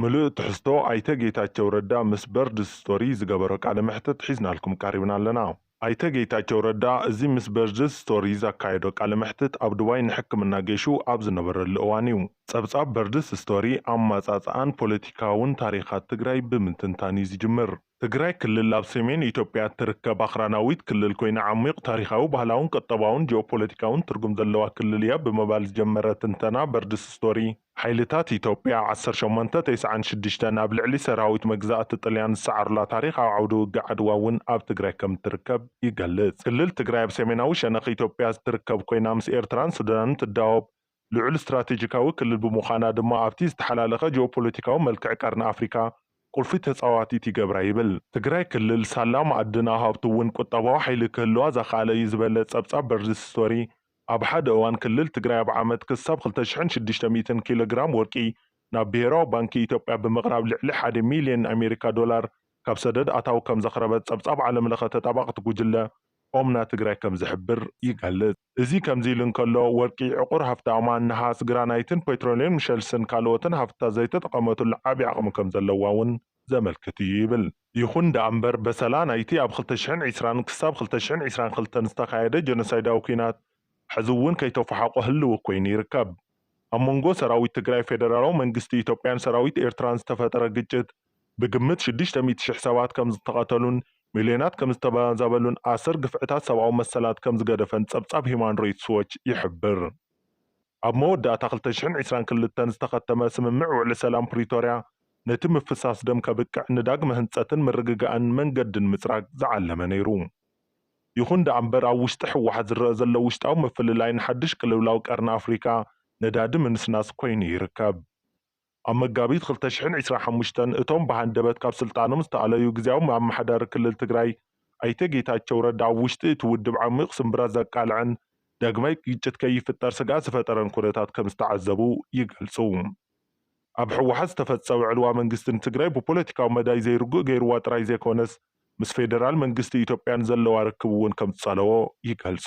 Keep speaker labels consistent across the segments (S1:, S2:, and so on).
S1: ምሉእ ትሕዝቶ ኣይተ ጌታቸው ረዳ ምስ በርድስ ስቶሪ ዝገበሮ ቃለ መሕትት ሒዝናልኩም ቀሪብና ኣለና። ኣይተ ጌታቸው ረዳ እዚ ምስ በርድስ ስቶሪ ዘካየዶ ቃለ መሕትት ኣብ ዱባይ ንሕክምና ገይሹ ኣብ ዝነበረሉ እዋን እዩ። ፀብፃብ በርድስ ስቶሪ ኣመፃፅኣን ፖለቲካውን ታሪኻት ትግራይ ብምትንታን እዩ ዝጅምር። ትግራይ ክልል ኣብ ሰሜን ኢትዮጵያ እትርከብ ኣኽራናዊት ክልል ኮይና ዓሚቕ ታሪኻዊ፣ ባህላውን ቁጠባውን ጂኦፖለቲካውን ትርጉም ዘለዋ ክልል እያ ብምባል ዝጀመረ ትንተና በርድስ ስቶሪ፣ ሓይልታት ኢትዮጵያ ዓሰርተ ሸሞንተ ተስዓን ሽዱሽተን ኣብ ልዕሊ ሰራዊት መግዛእቲ ጥልያን ዝሰዓሩላ ታሪኻዊ ዓውደ ውግእ ዓድዋ እውን ኣብ ትግራይ ከም እትርከብ ይገልጽ። ክልል ትግራይ ኣብ ሰሜናዊ ሸነኽ ኢትዮጵያ እትርከብ ኮይና ምስ ኤርትራን ሱዳንን ትዳወብ፣ ልዑል ስትራቴጂካዊ ክልል ብምዃና ድማ ኣብቲ ዝተሓላለኸ ጂኦፖለቲካዊ መልክዕ ቀርኒ ኣፍሪካ ቁልፊ ተፃዋቲት ይገብራ ይብል። ትግራይ ክልል ሳላ ማኣድና ሃብቱ እውን ቁጠባዊ ሓይሊ ክህልዋ ዘኽኣለ እዩ ዝበለ ፀብፃብ በርድስ ስቶሪ ኣብ ሓደ እዋን ክልል ትግራይ ኣብ ዓመት ክሳብ ክልተ ሽሕን ሽዱሽተ ሚእትን ኪሎ ግራም ወርቂ ናብ ብሄራዊ ባንኪ ኢትዮጵያ ብምቕራብ ልዕሊ ሓደ ሚሊየን ኣሜሪካ ዶላር ካብ ሰደድ ኣታዊ ከምዘኽረበት ፀብፃብ ዓለምለኸ ተጣባቕቲ ጉጅለ ኦምና ትግራይ ከምዝሕብር ይገልፅ። እዚ ከምዚ ኢሉ እንከሎ፣ ወርቂ ዕቑር ሃፍታማን ነሃስ ግራናይትን ፔትሮልየምን ሸልስን ካልኦትን ሃፍትታት ዘይተጠቐመትሉ ዓቢ ዓቕሚ ከም ዘለዋ'ውን ዘመልክት እዩ ይብል። ይኹን ደኣ'ምበር፣ በሰላ ናይቲ ኣብ ክልተ ሽሕን ዕስራን ክሳብ ክልተ ሽሕን ዕስራን ክልተን ዝተኻየደ ጀኖሳይዳዊ ኲናት ሕዚ'ውን ከይተፎሓቖ ህልዊ ኰይኑ ይርከብ። ኣብ መንጎ ሰራዊት ትግራይ፣ ፌደራላዊ መንግስቲ ኢትዮጵያን ሰራዊት ኤርትራን ዝተፈጠረ ግጭት፣ ብግምት ሽዱሽተ ሚእቲ ሽሕ ሰባት ከም ዝተቐተሉን ሚልዮናት ከም ዝተበዛበሉን ኣሰር ግፍዕታት ሰብኣዊ መሰላት ከም ዝገደፈን ጸብጻብ ሂዩማን ራይትስ ዎች ይሕብር። ኣብ መወዳእታ ክልተ ሽሕን ዕስራን ክልተን ዝተኸተመ ስምምዕ ውዕሊ ሰላም ፕሪቶርያ ነቲ ምፍሳስ ደም ከብቅዕ ንዳግመ ህንጸትን ምርግጋእን መንገዲ ንምጽራግ ዝዓለመ ነይሩ። ይኹን ደኣምበር ኣብ ውሽጢ ህወሓት ዝረኣ ዘሎ ውሽጣዊ ምፍልላይ ንሓዱሽ ቅልውላው ቀርኒ ኣፍሪካ ነዳዲ ምንስናስ ኮይኑ ይርከብ። ኣብ መጋቢት ክልተ ሽሕን ዒስራን ሓሙሽተን እቶም ብሃንደበት ካብ ስልጣኖም ዝተኣለዩ ግዝያዊ ኣመሓዳሪ ክልል ትግራይ ኣይተ ጌታቸው ረዳ ኣብ ውሽጢ እቲ ውድብ ዓሚቕ ስምብራት ዘቃልዐን ዳግማይ ግጭት ከይፍጠር ስግኣት ዝፈጠረን ኩነታት ከምዝተዓዘቡ ይገልፁ። ኣብ ህወሓት ዝተፈፀወ ዕልዋ መንግስቲ ንትግራይ ብፖለቲካዊ መዳይ ዘይርጉእ ገይርዋ ጥራይ ዘይኮነስ ምስ ፌደራል መንግስቲ ኢትዮጵያ ንዘለዋ ርክብ እውን ከምዝፀለዎ ይገልፁ።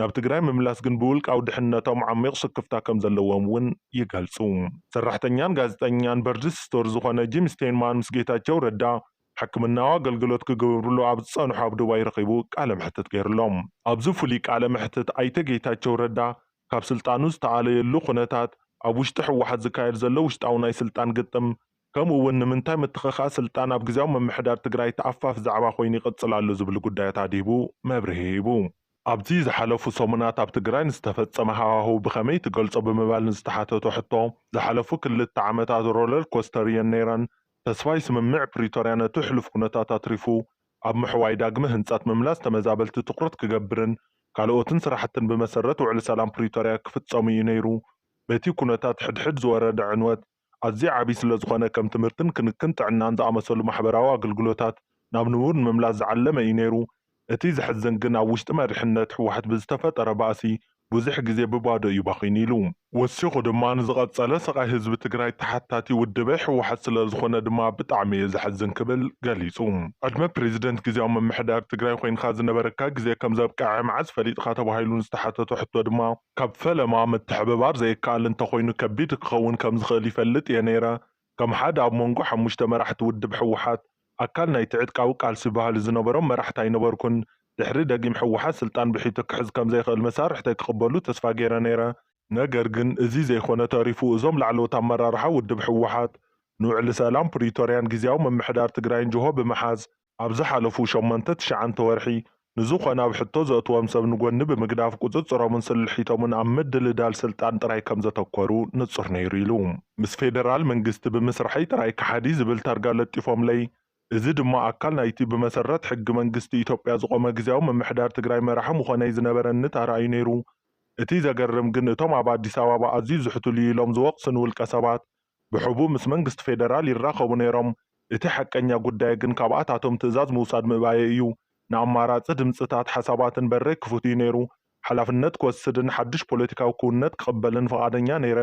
S1: ናብ ትግራይ ምምላስ ግን ብውልቃዊ ድሕንነቶም ዓሚቕ ስክፍታ ከምዘለዎም እውን ይገልፁ። ሰራሕተኛን ጋዜጠኛን በርድስ ስቶር ዝኾነ ጂም ስቴንማን ምስ ጌታቸው ረዳ ሕክምናዊ ኣገልግሎት ክገብርሉ ኣብ ዝፀንሑ ኣብ ዱባይ ረኺቡ ቃለ መሕትት ገይሩሎም። ኣብዚ ፍሉይ ቃለ መሕትት ኣይተ ጌታቸው ረዳ ካብ ስልጣኑ ዝተኣለየሉ ኩነታት፣ ኣብ ውሽጢ ህወሓት ዝካየድ ዘሎ ውሽጣዊ ናይ ስልጣን ግጥም ከምኡ እውን ንምንታይ ምትኽኻእ ስልጣን ኣብ ግዝያዊ ምምሕዳር ትግራይ ተኣፋፊ ዛዕባ ኮይኑ ይቕፅል ኣሎ ዝብሉ ጉዳያት ኣድሂቡ መብርሂ ሂቡ። ኣብ'ቲ ዝሓለፉ ሰሙናት ኣብ ትግራይ ንዝተፈጸመ ሃዋህው ብኸመይ ትገልጾ ብምባል ንዝተሓተቶ ሕቶ፣ ዝሓለፉ ክልተ ዓመታት ሮለር ኮስተር እየን ነይረን። ተስፋይ ስምምዕ ፕሪቶርያ ነቲ ሕሉፍ ኩነታት ኣትሪፉ ኣብ ምሕዋይ ዳግመ ህንጸት፣ ምምላስ ተመዛበልቲ ትኹረት ክገብርን ካልኦትን ስራሕትን ብመሰረት ውዕሊ ሰላም ፕሪቶርያ ክፍጸሙ እዩ ነይሩ። በቲ ኩነታት ሕድሕድ ዝወረደ ዕንወት፣ ኣዝዩ ዓብዪ ስለዝኾነ ከም ትምህርትን ክንክን ጥዕናን ዝኣመሰሉ ማሕበራዊ ኣገልግሎታት ናብ ንቡር ንምምላስ ዝዓለመ እዩ ነይሩ። እቲ ዘሕዝን ግን ኣብ ውሽጢ መሪሕነት ህወሓት ብዝተፈጠረ ባእሲ ብዙሕ ግዜ ብባዶ እዩ ባኺኑ ኢሉ። ወሲኹ ድማ ንዝቐፀለ ስቓይ ህዝቢ ትግራይ ተሓታቲ ውድበ ህወሓት ስለዝኾነ ድማ ብጣዕሚ እዩ ዘሕዝን ክብል ገሊፁ። ዕድመ ፕሬዚደንት ግዝያዊ ምምሕዳር ትግራይ ኾይንኻ ዝነበረካ ግዜ ከምዘብቅዐ መዓዝ ፈሊጥኻ ተባሂሉ ንዝተሓተቶ ሕቶ ድማ፣ ካብ ፈለማ ምትሕብባር ዘይከኣል እንተኾይኑ ከቢድ ክኸውን ከምዝኽእል ይፈልጥ እየ ነይረ። ከም ሓደ ኣብ ሞንጎ ሓሙሽተ መራሕቲ ውድብ ህወሓት፣ ኣካል ናይቲ ዕጥቃዊ ቃልሲ ባህሊ ዝነበሮም መራሕቲ ኣይነበርኩን። ድሕሪ ደጊም ህወሓት ስልጣን ብሒቱ ክሕዝ ከምዘይኽእል መሳርሕተይ ክቕበሉ ተስፋ ገይረ ነይረ። ነገር ግን እዚ ዘይኮነ ተሪፉ እዞም ላዕለዎት ኣመራርሓ ውድብ ህወሓት፣ ንውዕሊ ሰላም ፕሪቶርያን ጊዚያዊ ምምሕዳር ትግራይን ጅሆ ብምሓዝ፣ ኣብ ዝሓለፉ ሸሞንተ ትሽዓንተ ወርሒ ንዝኾነ ኣብ ሕቶ ዘእትዎም ሰብ ንጎኒ ብምግዳፍ ቁፅፅሮምን ስልሒቶምን ኣብ ምድልዳል ስልጣን ጥራይ ከምዘተኮሩ ንፁር ነይሩ ኢሉ። ምስ ፌደራል መንግስቲ ብምስርሐይ ጥራይ ከሓዲ ዝብል ታርጋ ለጢፎምለይ፣ እዚ ድማ ኣካል ናይቲ ብመሰረት ሕጊ መንግስቲ ኢትዮጵያ ዝቖመ ግዝያዊ ምምሕዳር ትግራይ መራሒ ምኾነይ ዝነበረኒ ታራ እዩ ነይሩ። እቲ ዘገርም ግን እቶም ኣብ ኣዲስ ኣባባ ኣዝዩ ዝሕትሉ'ዩ ኢሎም ዝወቕሱኒ ውልቀሰባት፣ ብሕቡእ ምስ መንግስቲ ፌደራል ይራኸቡ ነይሮም። እቲ ሓቀኛ ጉዳይ ግን ካብኣታቶም ትእዛዝ ምውሳድ ምእባየይ እዩ። ንኣማራጺ ድምጽታት ሓሳባትን በረይ ክፉት እዩ ነይሩ። ሓላፍነት ክወስድን ሓድሽ ፖለቲካዊ ክውንነት ክቕበልን ፍቓደኛ ነይረ።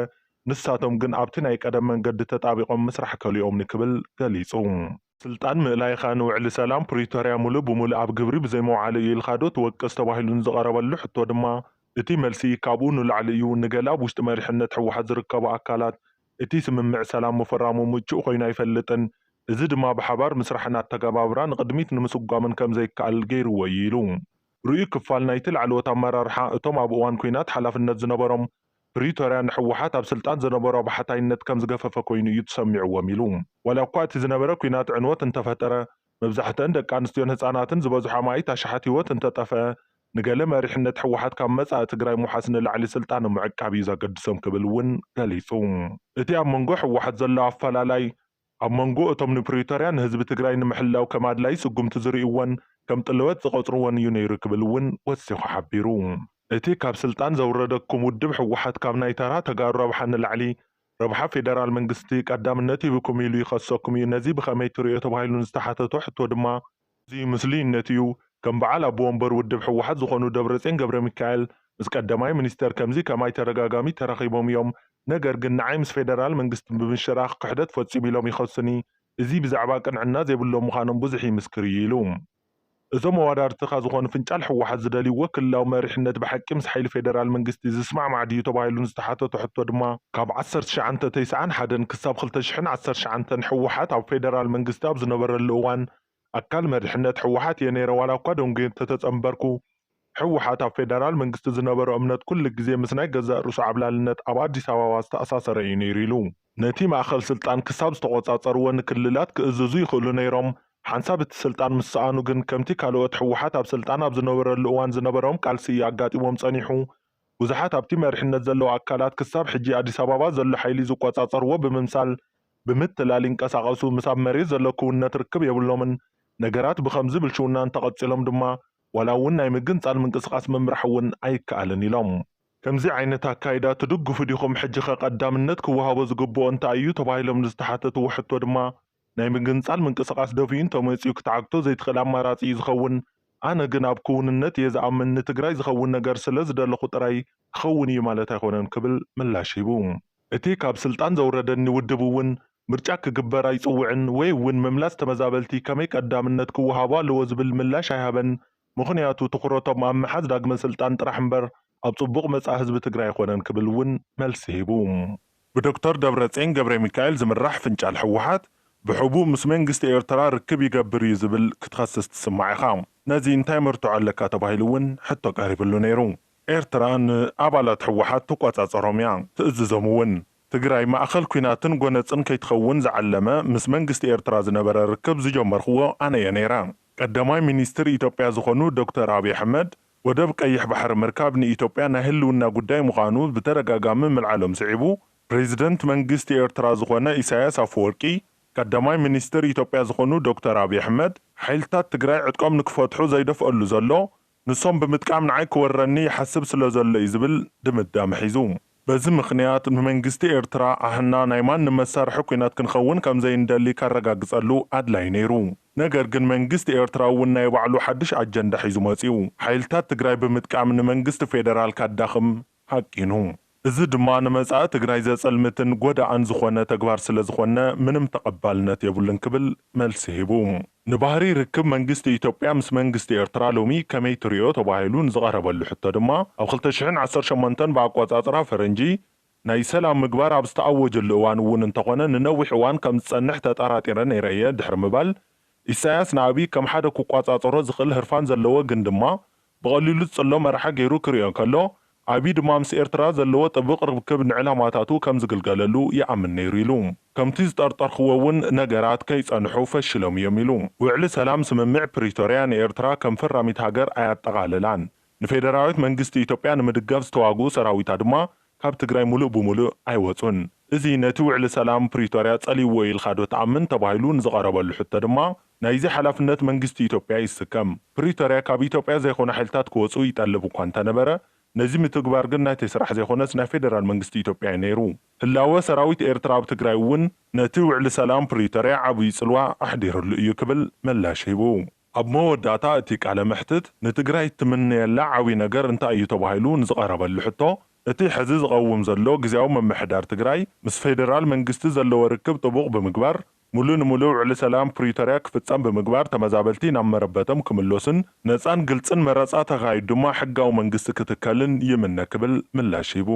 S1: ንሳቶም ግን ኣብቲ ናይ ቀደም መንገዲ ተጣቢቖም ምስራሕ ከሊኦምኒ ክብል ገሊጹ። ስልጣን ምእላይካ ንውዕሊ ሰላም ፕሪቶርያ ሙሉእ ብሙሉእ ኣብ ግብሪ ብዘይምውዓሉ እዩ ኢልካዶ ትወቅስ ተባሂሉ ንዝቐረበሉ ሕቶ ድማ እቲ መልሲ ካብኡ ንላዕሊ እዩ፣ ንገለ ኣብ ውሽጢ መሪሕነት ህወሓት ዝርከቡ ኣካላት እቲ ስምምዕ ሰላም ምፍራሙ ምቹእ ኮይኑ ኣይፈልጥን፣ እዚ ድማ ብሓባር ምስራሕን ኣተገባብራ ንቕድሚት ንምስጓምን ከምዘይከኣል ገይሩዎ እዩ ኢሉ። ርኡይ ክፋል ናይቲ ላዕለዎት ኣመራርሓ እቶም ኣብ እዋን ኲናት ሓላፍነት ዝነበሮም ፕሪቶርያ ንህወሓት ኣብ ስልጣን ዝነበሮ ብሓታይነት ከም ዝገፈፈ ኮይኑ እዩ ተሰሚዕዎም ኢሉ። ዋላ እኳ እቲ ዝነበረ ኲናት ዕንወት እንተፈጠረ፣ መብዛሕተኣን ደቂ ኣንስትዮን ህፃናትን ዝበዝሑ ኣማኢት ኣሽሓት ህይወት እንተጠፈኣ፣ ንገለ መሪሕነት ህወሓት ካብ መፃኢ ትግራይ ምውሓስ ንላዕሊ ስልጣኖም ምዕቃብ እዩ ዘገድሶም ክብል እውን ገሊፁ። እቲ ኣብ መንጎ ህወሓት ዘሎ ኣፈላላይ ኣብ መንጎ እቶም ንፕሪቶርያ ንህዝቢ ትግራይ ንምሕላው ከም ኣድላይ ስጉምቲ ዝርእይዎን ከም ጥለወት ዝቐጽርዎን እዩ ነይሩ ክብል እውን ወሲኹ ሓቢሩ። እቲ ካብ ስልጣን ዘውረደኩም ውድብ ህወሓት ካብ ናይ ተራ ተጋሩ ረብሓ ንላዕሊ ረብሓ ፌደራል መንግስቲ ቀዳምነት ሂብኩም ኢሉ ይኸሰኩም እዩ፣ ነዚ ብኸመይ ትርእዮ ተባሂሉ ንዝተሓተቶ ሕቶ ድማ፣ እዚ ምስሊ እምነት እዩ ከም በዓል ኣቦ ወንበር ውድብ ህወሓት ዝኾኑ ደብረጼን ገብረሚካኤል ምስ ቀደማይ ሚኒስተር ከምዚ ከማይ ተደጋጋሚ ተራኺቦም እዮም ነገር ግን ንዓይ ምስ ፌደራል መንግስቲ ብምሽራኽ ክሕደት ፈፂሙ ኢሎም ይኸሱኒ እዚ ብዛዕባ ቅንዕና ዘይብሎም ምዃኖም ብዙሕ ይምስክር እዩ ኢሉ እዞም ኣዋዳርትኻ ዝኾኑ ፍንጫል ህወሓት ዝደልይዎ ክልላዊ መሪሕነት ብሓቂ ምስ ሓይሊ ፌደራል መንግስቲ ዝስማዕማዕ ድዩ ተባሂሉ ንዝተሓተቶ ሕቶ ድማ ካብ ዓሰርተ ትሽዓንተ ተስዓን ሓደን ክሳብ ክልተ ሽሕን ዓሰርተ ትሽዓንተን ህወሓት ኣብ ፌደራል መንግስቲ ኣብ ዝነበረሉ እዋን ኣካል መሪሕነት ህወሓት እየ ነይረ ዋላ እኳ ደንጉየ እንተተፀምበርኩ ህወሓት ኣብ ፌደራል መንግስቲ ዝነበሮ እምነት ኩሉ ግዜ ምስ ናይ ገዛእ ርእሱ ዓብላልነት ኣብ ኣዲስ ኣበባ ዝተኣሳሰረ እዩ ነይሩ ኢሉ። ነቲ ማእኸል ስልጣን ክሳብ ዝተቖፃፀርዎ ንክልላት ክእዝዙ ይኽእሉ ነይሮም ሓንሳብ እቲ ስልጣን ምስ ሰኣኑ ግን ከምቲ ካልኦት ህወሓት ኣብ ስልጣን ኣብ ዝነበረሉ እዋን ዝነበሮም ቃልሲ እዩ ኣጋጢሞም ፀኒሑ ብዙሓት ኣብቲ መሪሕነት ዘለዉ ኣካላት ክሳብ ሕጂ ኣዲስ ኣባባ ዘሎ ሓይሊ ዝቆጻጸርዎ ብምምሳል ብምትላል ይንቀሳቐሱ፣ ምስ ኣብ መሬት ዘሎ ክውንነት ርክብ የብሎምን። ነገራት ብኸምዚ ብልሽውና እንተቐጺሎም ድማ ዋላ እውን ናይ ምግንጻል ምንቅስቓስ ምምራሕ እውን ኣይከኣልን ኢሎም። ከምዚ ዓይነት ኣካይዳ ትድግፉ ዲኹም? ሕጂኸ ቀዳምነት ክወሃቦ ዝግበኦ እንታይ እዩ? ተባሂሎም ንዝተሓተትዎ ሕቶ ድማ ናይ ምግንጻል ምንቅስቓስ ደፊኡ እንተመጺኡ ክትዓግቶ ዘይትኽእል ኣማራጺ እዩ ዝኸውን። ኣነ ግን ኣብ ክውንነት እየ ዝኣምን፣ ንትግራይ ዝኸውን ነገር ስለ ዝደለኹ ጥራይ ክኸውን እዩ ማለት ኣይኮነን ክብል ምላሽ ሂቡ። እቲ ካብ ስልጣን ዘውረደኒ ውድብ እውን ምርጫ ክግበር ኣይጽውዕን ወይ እውን ምምላስ ተመዛበልቲ ከመይ ቀዳምነት ክወሃቦ ኣለዎ ዝብል ምላሽ ኣይሃበን፣ ምኽንያቱ ትኹረቶም ኣብ ምሓዝ ዳግመ ስልጣን ጥራሕ እምበር ኣብ ፅቡቕ መፃኢ ህዝቢ ትግራይ ኣይኾነን ክብል እውን መልሲ ሂቡ። ብዶክተር ደብረጼን ገብሬሚካኤል ዝምራሕ ፍንጫል ህወሓት ብሕቡእ ምስ መንግስቲ ኤርትራ ርክብ ይገብር እዩ ዝብል ክትኸስስ ትስማዕ ኢኻ። ነዚ እንታይ መርትዖ ኣለካ ተባሂሉ እውን ሕቶ ቀሪብሉ ነይሩ። ኤርትራ ንኣባላት ህወሓት ትቆፃፀሮም እያ፣ ትእዝዞም እውን። ትግራይ ማእኸል ኲናትን ጎነፅን ከይትኸውን ዝዓለመ ምስ መንግስቲ ኤርትራ ዝነበረ ርክብ ዝጀመርክዎ ኣነ እየ ነይረ። ቀዳማይ ሚኒስትር ኢትዮጵያ ዝኾኑ ዶክተር ኣብይ ኣሕመድ ወደብ ቀይሕ ባሕሪ ምርካብ ንኢትዮጵያ ናይ ህልውና ጉዳይ ምዃኑ ብተደጋጋሚ ምልዓሎም ስዒቡ፣ ፕረዚደንት መንግስቲ ኤርትራ ዝኾነ ኢሳይያስ ኣፈወርቂ፣ ቀዳማይ ሚኒስትር ኢትዮጵያ ዝኾኑ ዶክተር ኣብይ ኣሕመድ፣ ሓይልታት ትግራይ ዕጥቆም ንክፈትሑ ዘይደፍኣሉ ዘሎ፣ ንሶም ብምጥቃም ንዓይ ክወረኒ ይሓስብ ስለዘሎ'ዩ ዝብል ድምዳመ ሒዙ። በዚ ምኽንያት ንመንግስቲ ኤርትራ ኣሕና ናይ ማንም መሳርሒ ኲናት ክንኸውን ከም ዘይንደሊ ከረጋግጸሉ ኣድላዪ ነይሩ። ነገር ግን መንግስቲ ኤርትራ እውን ናይ ባዕሉ ሓድሽ ኣጀንዳ ሒዙ መጺኡ። ሓይልታት ትግራይ ብምጥቃም ንመንግስቲ ፌደራል ከዳኽም ሃቂኑ። እዚ ድማ ንመጻኢ ትግራይ ዘጸልምትን ጎዳእን ዝኾነ ተግባር ስለዝኾነ ምንም ተቐባልነት የብሉን ክብል መልሲ ሂቡ። ንባህሪ ርክብ መንግስቲ ኢትዮጵያ ምስ መንግስቲ ኤርትራ ሎሚ ከመይ ትሪኦ ተባሂሉ ንዝቐረበሉ ሕቶ ድማ፣ ኣብ ክልተ ሽሕን ዓሰርተ ሸሞንተን ብኣቆጻጽራ ፈረንጂ ናይ ሰላም ምግባር ኣብ ዝተኣወጀሉ እዋን እውን እንተኾነ ንነዊሕ እዋን ከም ዝጸንሕ ተጠራጢረ ነይረ እየ ድሕሪ ምባል፣ ኢሳያስ ንኣብይ ከም ሓደ ክቆጻጸሮ ዝኽእል ህርፋን ዘለዎ ግን ድማ ብቐሊሉ ዝጽሎ መራሒ ገይሩ ክርእዮ እንከሎ፣ ኣቢይ ድማ ምስ ኤርትራ ዘለዎ ጥብቕ ርብክብ ንዕላማታቱ ከም ዝግልገለሉ ይኣምን ነይሩ ኢሉ። ከምቲ ዝጠርጠርክዎ'ውን ነገራት ከይጸንሑ ፈሺሎም እዮም ኢሉ። ውዕሊ ሰላም ስምምዕ ፕሪቶርያ ንኤርትራ ከም ፈራሚት ሃገር ኣየጠቓለላን። ንፌደራዊት መንግስቲ ኢትዮጵያ ንምድጋፍ ዝተዋግኡ ሰራዊታ ድማ ካብ ትግራይ ሙሉእ ብሙሉእ ኣይወፁን። እዚ ነቲ ውዕሊ ሰላም ፕሪቶርያ ፀሊእዎ ኢልካ ዶ ትኣምን ተባሂሉ ንዝቐረበሉ ሕቶ ድማ ናይዚ ሓላፍነት መንግስቲ ኢትዮጵያ ይስከም። ፕሪቶርያ ካብ ኢትዮጵያ ዘይኮኑ ሓይልታት ክወፁ ይጠልብ እኳ እንተነበረ ነዚ ምትግባር ግን ናተይ ስራሕ ዘይኮነስ ናይ ፌደራል መንግስቲ ኢትዮጵያ እዩ ነይሩ። ህላወ ሰራዊት ኤርትራ ኣብ ትግራይ እውን ነቲ ውዕሊ ሰላም ፕሪቶርያ ዓብዩ ፅልዋ ኣሕዲርሉ እዩ ክብል ምላሽ ሂቡ። ኣብ መወዳእታ እቲ ቃለ መሕትት ንትግራይ እትምነየላ ዓብይ ነገር እንታይ እዩ ተባሂሉ ንዝቐረበሉ ሕቶ እቲ ሕዚ ዝቐውም ዘሎ ግዝያዊ ምምሕዳር ትግራይ ምስ ፌደራል መንግስቲ ዘለዎ ርክብ ጥቡቕ ብምግባር ሙሉእ ንሙሉእ ውዕሊ ሰላም ፕሪቶርያ ክፍፀም ብምግባር ተመዛበልቲ ናብ መረበቶም ክምለሱን ነፃን ግልፅን መረፃ ተኻይዱ ድማ ሕጋዊ መንግስቲ ክትከልን ይምነ ክብል ምላሽ ሂቡ።